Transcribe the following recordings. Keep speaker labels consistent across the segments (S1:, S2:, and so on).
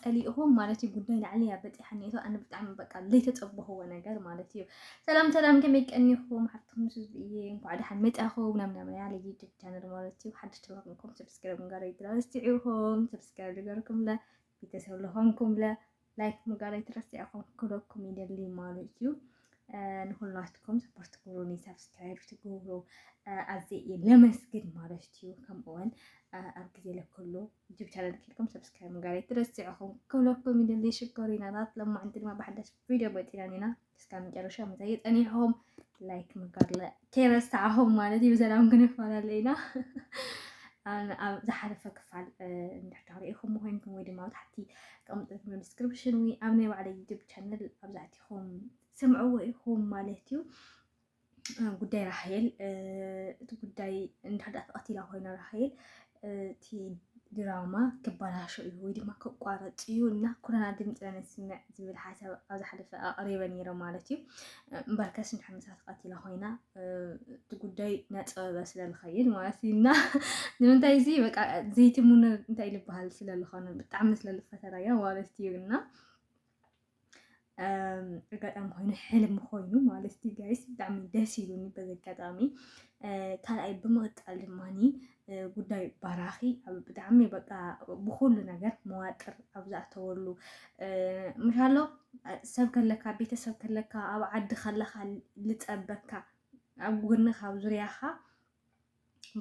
S1: ፀሊእኹም ማለት እዩ ጉዳይ ላዕሊ እያ በፂሓኒ እቶ ኣነ ብጣዕሚ በቃ ዘይተፀበኽዎ ነገር ማለት እዩ ሰላም ሰላም ከመይ ቀኒኹም ሓፍትኩም ስዝ እየ እንኳዕ ደሓን መፃኹም ናብ ናመያ ለዩቱብ ቻነል ማለት እዩ ሓድሽ ተባክንኩም ሰብስክራይብ ጋር ይትረስቲዑኹም ሰብስክራይብ ዝገርኩም ለ ቤተሰብ ለኾንኩም ለ ላይክ ምጋር ይትረስቲዑኹም ክለኩም ይደሊ ማለት እዩ ንኩላትኩም ሰፖርት ትገብሩኒ ሰብስክራይብ ትገብሩ ኣዘ እየ ለመስግን ማለት እዩ ከምኡውን ኣብ ግዜ ለክሉ ዩቱብ ቻነል ኬድኩም ሰብስክራይብ ምግባር ኣይትረስዕኹም። ክብለኩም ይደሊ ሽኮሪናታት ሎማዕንቲ ድማ ብሓዳሽ ቪድዮ መፂና ኒና እስካብ መጨረሻ ምታይ ፀኒሕኹም ላይክ ምግባር ከይረሳዕኹም ማለት እዩ። ብሰላም ክንፈላለ ኢና። ኣብ ዝሓለፈ ክፋል እንድሕዳ ሪኢኹም ኮይንኩም ወይ ድማ ታሕቲ ቀምጥኩም ዲስክሪፕሽን ወይ ኣብ ናይ ባዕለ ዩቱብ ቻነል ኣብዛዕቲኹም ስምዕዎ ኢኹም ማለት እዩ። ጉዳይ ራሄል እቲ ጉዳይ እንዳዳ ተቐቲላ ኮይና ራሄል እቲ ድራማ ክበላሾ እዩ ወይ ድማ ክቋረፅ እዩ እና ኩረና ድምፂ ነስምዕ ዝብል ሓሳብ ኣብዚ ሓደፈ ኣቕሪበ ነይረ ማለት እዩ እምበር ከስ ንሕምሳ ተቐቲላ ኮይና እቲ ጉዳይ ናፀበበ ስለዝኸይድ ማለት እዩ እና ንምንታይ እዚ በቃ ዘይትሙነ እንታይ ዝበሃል ስለዝኾነ ብጣዕሚ ስለዝፈተራያ ማለት እዩ እና ኣጋጣሚ ኮይኑ ሕልሚ ኮይኑ ማለት እዩ ጋይስ ብጣዕሚ ደስ ይብሉኒ በዚ ኣጋጣሚ ካልኣይ ብምቕጣል ድማ ጉዳይ ባራኺ ብጣዕሚ በቃ ብኩሉ ነገር መዋጥር ኣብ ዝኣተወሉ ምሻሎ ሰብ ከለካ ቤተሰብ ከለካ ኣብ ዓዲ ከለካ ልፀበካ ኣብ ጎንኻ ኣብ ዙርያኻ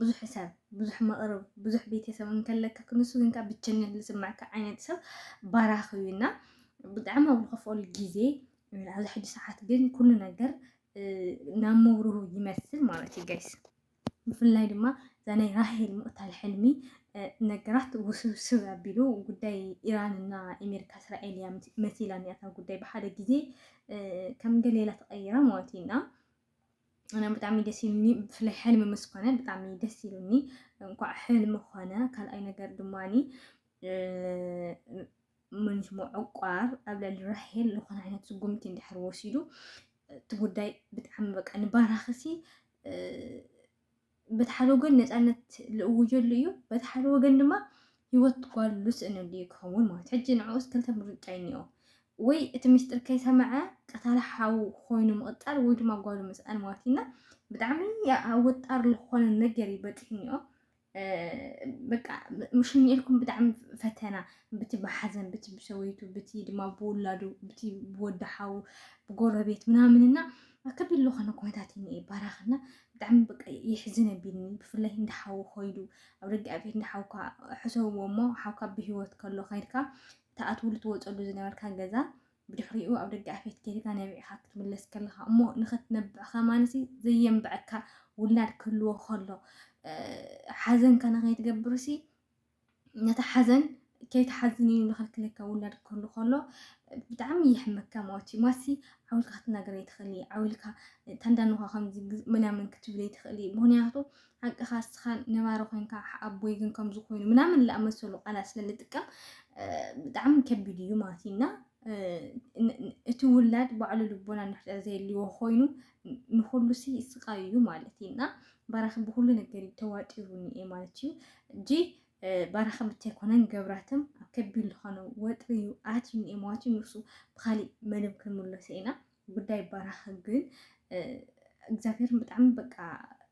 S1: ብዙሕ ሰብ ብዙሕ መቕርብ ብዙሕ ቤተሰብ እንከለካ ክንሱ ግንካ ብቸኝነት ዝስምዐካ ዓይነት ሰብ ባራኽ እዩ እና ብጣዕሚ ኣብ ዝኸፍኦሉ ግዜ ኣብዚ ሕጂ ሰዓት ግን ኩሉ ነገር ናብ መብርሁ ይመስል ማለት እዩ ጋይስ ብፍላይ ድማ እዛ ናይ ራሄል ምቕታል ሕልሚ ነገራት ውስብስብ ኣቢሉ ጉዳይ ኢራንና ኣሜሪካ እስራኤል እያ መሲላ እኒኣታ ጉዳይ ብሓደ ግዜ ከም ገሌላ ተቐይራ ማለት እዩ እና እና ብጣዕሚ ደስ ኢሉኒ ብፍላይ ሕልሚ ምስ ኮነ ብጣዕሚ ደስ ኢሉኒ እንኳዕ ሕልሚ ኮነ ካልኣይ ነገር ድማኒ ምን ሽሙ ዕቋር ኣብ ልዕሊ ራሄል ዝኾነ ዓይነት ስጉምቲ እንድሕር ወሲዱ እቲ ጉዳይ ብጣዕሚ በቃ ንባራኽሲ በቲ ሓደ ወገን ነፃነት ልእውጀሉ እዩ፣ በቲ ሓደ ወገን ድማ ህይወት ጓል ልስእነሉ እዩ ክኸውን ማለት ሕጂ ንዕኡስ ክልተ ምርጫ እዩ እኒኦ ወይ እቲ ምስጢር ከይሰምዐ ቀታሊ ሓው ኮይኑ ምቕፃል ወይ ድማ ጓሉ ምስኣን ማለት እዩና ብጣዕሚ ኣብ ወጣር ዝኾነ ነገር እዩ በፂሑ እኒኦ በቃ ምሽኝ ኢልኩም ብጣዕሚ ፈተና ብቲ ብሓዘን ብቲ ብሰወይቱ ብቲ ድማ ብውላዱ ብቲ ብወዲ ሓው ብጎረቤት ምናምንና ከቢድ ዝኾነ ኩነታት እዩ እኒኤ ባራኽ እና ብጣዕሚ በቃ የሕዝን ኣቢኒ ብፍላይ እንዳ ሓዊ ኮይዱ ኣብ ደገ ኣብ ቤት እንዳ ሓውካ ሕሰብዎ እሞ ሓውካ ብሂወት ከሎ ከይድካ ትኣትውሉ ትወፀሉ ዝነበርካ ገዛ ብድሕሪኡ ኣብ ደገ ኣፌት ጌርካ ነቢዕካ ክትምለስ ከለካ እሞ ንክትነብዕ ከማንሲ ዘየንብዐካ ውላድ ክህልዎ ከሎ ሓዘንካ ንከይትገብርሲ ነታ ሓዘን ከይትሓዝን እዩ ንኸልክለካ ውላድ ክህሉ ከሎ ብጣዕሚ ይሕመካ ማለት እዩ ማሲ ዓውልካ ክትናገር ኣይትኽእሊ ዓውልካ ታንዳንኳ ከምዚ ምናምን ክትብል ኣይትኽእሊ ምክንያቱ ሓቅኻ እስኻ ነባሪ ኮንካ ኣቦይ ግን ከምዚ ኮይኑ ምናምን ዝኣመሰሉ ቃላት ስለንጥቀም ብጣዕሚ ከቢድ እዩ ማለት እዩ እና እቲ ውላድ ባዕሉ ልቦና ንሕጠር ዘየልዎ ኮይኑ ንኩሉ ሲ ስቃይ እዩ ማለት እዩ እና ባራኺ ብኩሉ ነገር እዩ ተዋጢሩኒ እየ ማለት እዩ እጂ ባራኺ ብታይ ኮነን ገብራትም ኣብ ከቢድ ዝኾነ ወጥሪ እዩ ኣትዩኒ እየ ማለት እዩ ንሱ ብካሊእ መደብ ክንምለሶ ኢና ጉዳይ ባራኺ ግን እግዚኣብሔር ብጣዕሚ በቃ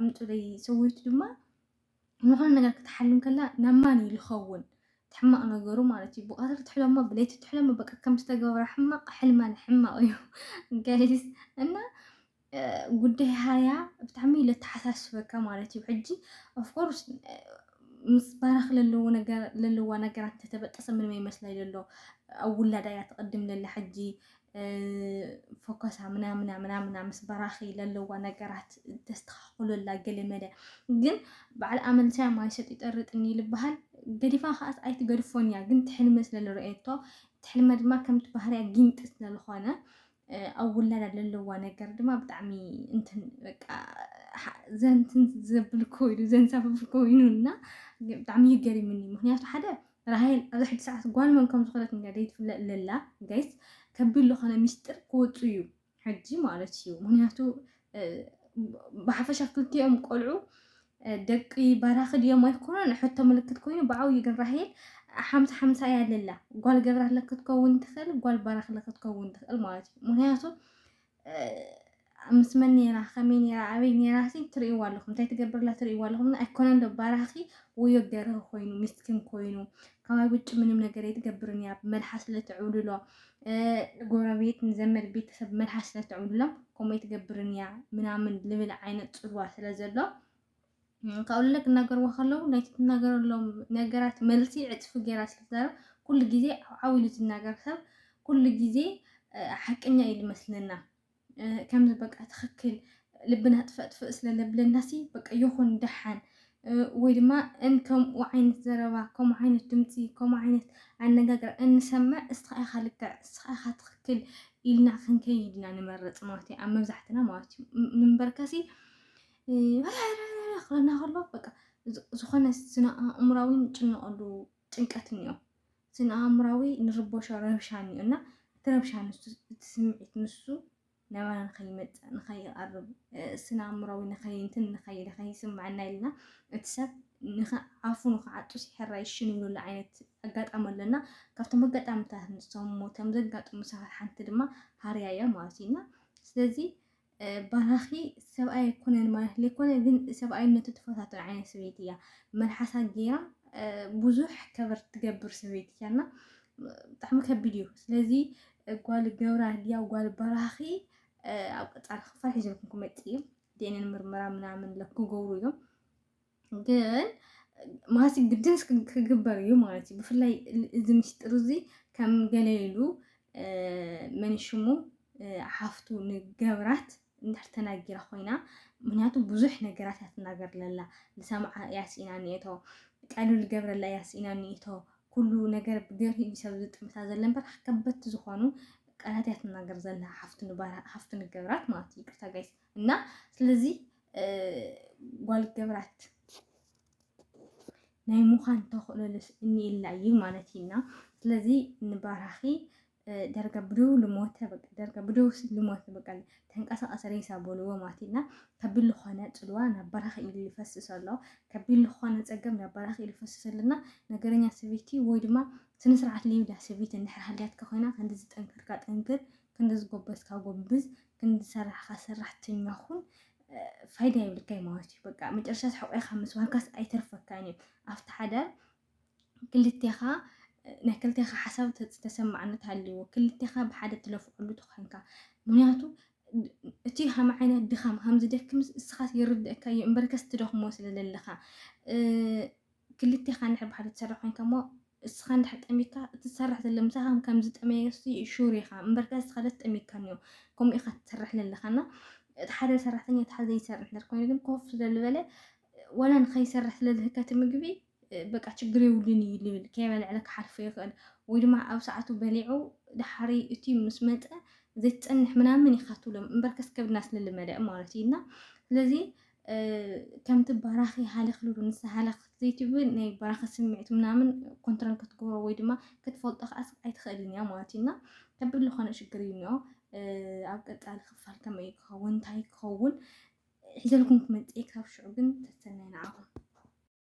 S1: ኣምጡለይ ሰወይቱ ድማ ንኾነ ነገር ክትሓልም ከላ ናብ ማን እዩ ዝኸውን እቲ ሕማቕ ነገሩ ማለት እዩ ብቀትሪ ትሕለሞ ብለይቲ ትሕለሞ በቃ ከም ዝተገብረ ሕማቕ ሕልማን ሕማቕ እዩ ጋይስ እና ጉዳይ ሃያ ብጣዕሚ እዩ ለተሓሳስበካ ማለት እዩ ሕጂ ኦፍኮርስ ምስ ባራኽ ለለዎ ነገር ለለዋ ነገራት ተተበጠሰ ምንም ኣይመስላይ ለሎ ኣብ ውላዳ እያ ትቕድም ለላ ሕጂ ፎከሳ ምናምና ምናምና ምስ በራኺ ለለዋ ነገራት ተስተኻኽለላ ገለ መለ ግን በዓል ኣመልሳያ ማይ ሰጥ ይጠርጥኒ ልበሃል ገዲፋ ከዓት ኣይትገድፎን እያ ግን ትሕልመ ስለልረኤቶ ትሕልመ ድማ ከምቲ ባህርያ ጊንጢ ስለዝኾነ ኣብ ውላዳ ለለዋ ነገር ድማ ብጣዕሚ እንትን በቃ ዘንትን ዘብል ኮይኑ ዘንሳፍፍ ኮይኑ እና ብጣዕሚ ይገርምኒ ምክንያቱ ሓደ ራሄል ኣብዛ ሕጂ ሰዓት ጓል መን ከም ዝኮነት እንድያ ዘይትፍለጥ ለላ ጋይስ ከቢድ ልኮነ ሚስጢር ክወጹ እዩ ሕጂ ማለት እዩ ምክንያቱ ብሓፈሻ ክልቲኦም ቆልዑ ደቂ ባራኺ ድዮም ኣይኮነን ሕቶ ምልክት ኮይኑ ብዓብዩ ግን ራሄል ሓምሳ ሓምሳ እያ ለላ ጓል ገብራለ ክትከውን ትኽእል ጓል ባራክለ ክትከውን ትኽእል ማለት እዩ ምክንያቱ ምስ መን ኔራ ከመይ ኔራ ኣበይ ኔራ ሲ ትርእይዋ ኣለኹም እንታይ ትገብርላ ትርእይዋ ኣለኹም ኣይኮነን ዶ ባራኺ ወዮ ገርህ ኮይኑ ሚስኪን ኮይኑ ካባይ ውጭ ምንም ነገር የትገብርን እያ መልሓስ ለትዕብልሎ ጎረቤት ንዘመድ ቤተሰብ መልሓስ ለትዕብልሎም ከምኡ የትገብርን እያ ምናምን ልብል ዓይነት ፅልዋ ስለ ዘሎ ካብኡ ንላዕሊ ክናገርዎ ከለዉ ናይቲ ትናገረሎም ነገራት መልሲ ዕፅፊ ጌራ ስለትዛረብ ኩሉ ግዜ ዓው ኢሉ ዝናገር ሰብ ኩሉ ግዜ ሓቀኛ እዩ ዝመስለና ከምዚ በቃ ትኽክል ልብና ጥፈጥፍእ ስለዘብለናሲ በቃ ይኹን ደሓን ወይ ድማ እን ከምኡ ዓይነት ዘረባ ከምኡ ዓይነት ድምፂ ከምኡ ዓይነት ኣነጋግራ እንሰምዕ እስኻ ኢኻ ልክዕ እስኻ ኢኻ ትኽክል ኢልና ክንከይድ ኢና ንመርፅ ማለት እዩ ኣብ መብዛሕትና ማለት እዩ እምበርከሲ ክረና ከሎ በቃ ዝኾነ ስነ ኣእምራዊ ንጭነቐሉ ጭንቀት እኒኦ ስነ ኣእምራዊ ንርቦሾ ረብሻ እኒኦ እና እቲ ረብሻ ንሱ እቲ ስምዒት ንሱ ናባና ንኸይመፅእ ንኸይቐርብ ስነ ኣእምራዊ ንኸይንትን ንኸይ ንኸይስምዐና ኢልና እቲ ሰብ ንኸዓፉ ንኸዓጡ ሲሕራ ይሽንብሉ ዓይነት ኣጋጣሚ ኣለና ካብቶም ኣጋጣሚታት ንሰሙ ከም ዘጋጥሙ ሰባት ሓንቲ ድማ ሃርያ እያ ማለት እዩ እና ስለዚ ባራኺ ሰብኣይ ኣይኮነን ማለት ዘይኮነ ግን ሰብኣይነቱ ትፈታተን ዓይነት ሰበይቲ እያ መልሓሳ ጌራ ብዙሕ ከበር ትገብር ሰበይቲ እያ እና ብጣዕሚ ከቢድ እዩ ስለዚ ጓል ገብራ ድያ ጓል ባራኺ ኣብ ቀፃሊ ክፋል ሒዘልኩም ክመፅእ እዩ ዲኤንኤን ምርመራ ምናምን ክገብሩ እዮም ግን ማለት ግድን ክግበር እዩ ማለት እዩ ብፍላይ እዚ ምስጢር እዚ ከም ገለ ኢሉ መን ሽሙ ሓፍቱ ንገብራት እንድሕር ተናጊራ ኮይና ምክንያቱ ብዙሕ ነገራት እያ ትናገር ለላ ንሰምዓ እያ ስኢና ኒኤቶ ቀልሉ ገብረላ እያ ስኢና ኒኤቶ ኩሉ ነገር ብገርሂ እዩ ሰብ ዝጥምታ ዘለ እምበር ከበድቲ ዝኾኑ ቃላት እያ ትናገር ዘላ ሓፍቱ ንገብራት ማለት እዩ ይቅርታ ጋይስ እና ስለዚ ጓል ገብራት ናይ ምዃን ተኽእሎልስ እኒኤላ እዩ ማለት እዩና ስለዚ ንባራኺ ደርጋ ብደው ልሞተ በቃ ደርጋ ብደው ልሞተ በቃ ተንቀሳቀሰ ሬሳ በልዎ ማለት እዩና ከቢድ ልኾነ ፅልዋ ናብ በራኺ ኢሉ ይፈስስ ኣሎ ከቢድ ልኾነ ፀገም ናብ በራኺ ኢሉ ይፈስስ ኣለና ነገረኛ ሰበይቲ ወይ ድማ ስነ ስርዓት ልዩዳ ሰበይቲ እንድሕር ሃልያትካ ኮይና ክንዲ ዝጠንክርካ ጠንክር ክንዲ ዝጎበዝካ ጎብዝ ክንሰራሕኻ ሰራሕተኛ ኹን ፋይዳ የብልካይ ማለት እዩ በቃ መጨረሻ ሕቆይካ ምስ ዋንካስ ኣይተርፈካን እዩ ኣብቲ ሓዳር ክልቴኻ ናይ ክልቴኻ ሓሳብ ተሰማዕነት ሃልዎ ክልቴኻ ብሓደ ትለፍዐሉ ተኮንካ ምክንያቱ እቲ ሃም ዓይነት ድኻም ሃም ዝደክምስ እስኻስ ይርድእካ እዩ እምበርከስ ትደኽሞ ስለዘለኻ ክልቴኻ እንድሕር ብሓደ ትሰርሕ ኮይንካ እሞ እስኻ እንድሕር ጠሚካ እቲ ትሰርሕ ዘሎ ምሳኻ ከም ዝጠመየ ሹር ኢኻ እምበርከ እስኻ ደስ ጠሚካ እኒኦ ከምኡ ኢኻ ትሰርሕ ዘለኻ እና እቲ ሓደ ሰራሕተኛ እቲ ሓደ ዘይሰርሕ እንድሕር ኮይኑ ግን ኮፍ ስለዝበለ ወላ ንኸይሰርሕ ስለዝህከ እቲ ምግቢ በቃ ችግር የብሉን እዩ ልብል ከይበልዕለ ክሓልፎ ይኽእል ወይ ድማ ኣብ ሰዓቱ በሊዑ ድሓሪ እቲ ምስ መፀ ዘይትፀንሕ ምናምን ይኻትሎም እምበር ከስከብድና ስለልመደ ማለት እዩ እና ስለዚ ከምቲ በራኺ ሃለኽልሉ ንሳ ሃለኽ ዘይትብል ናይ በራኺ ስምዒት ምናምን ኮንትሮል ክትገብሮ ወይ ድማ ክትፈልጦ ከዓ ኣይትኽእልን እያ ማለት እዩ እና ከቢድ ዝኾነ ሽግር እዩ እኒኦ ኣብ ቀፃሊ ክፋል ከመይ ክኸውን እንታይ ክኸውን ሒዘልኩም ክመፅእ ካብ ሽዑ ግን ተሰናይ ንዓኹም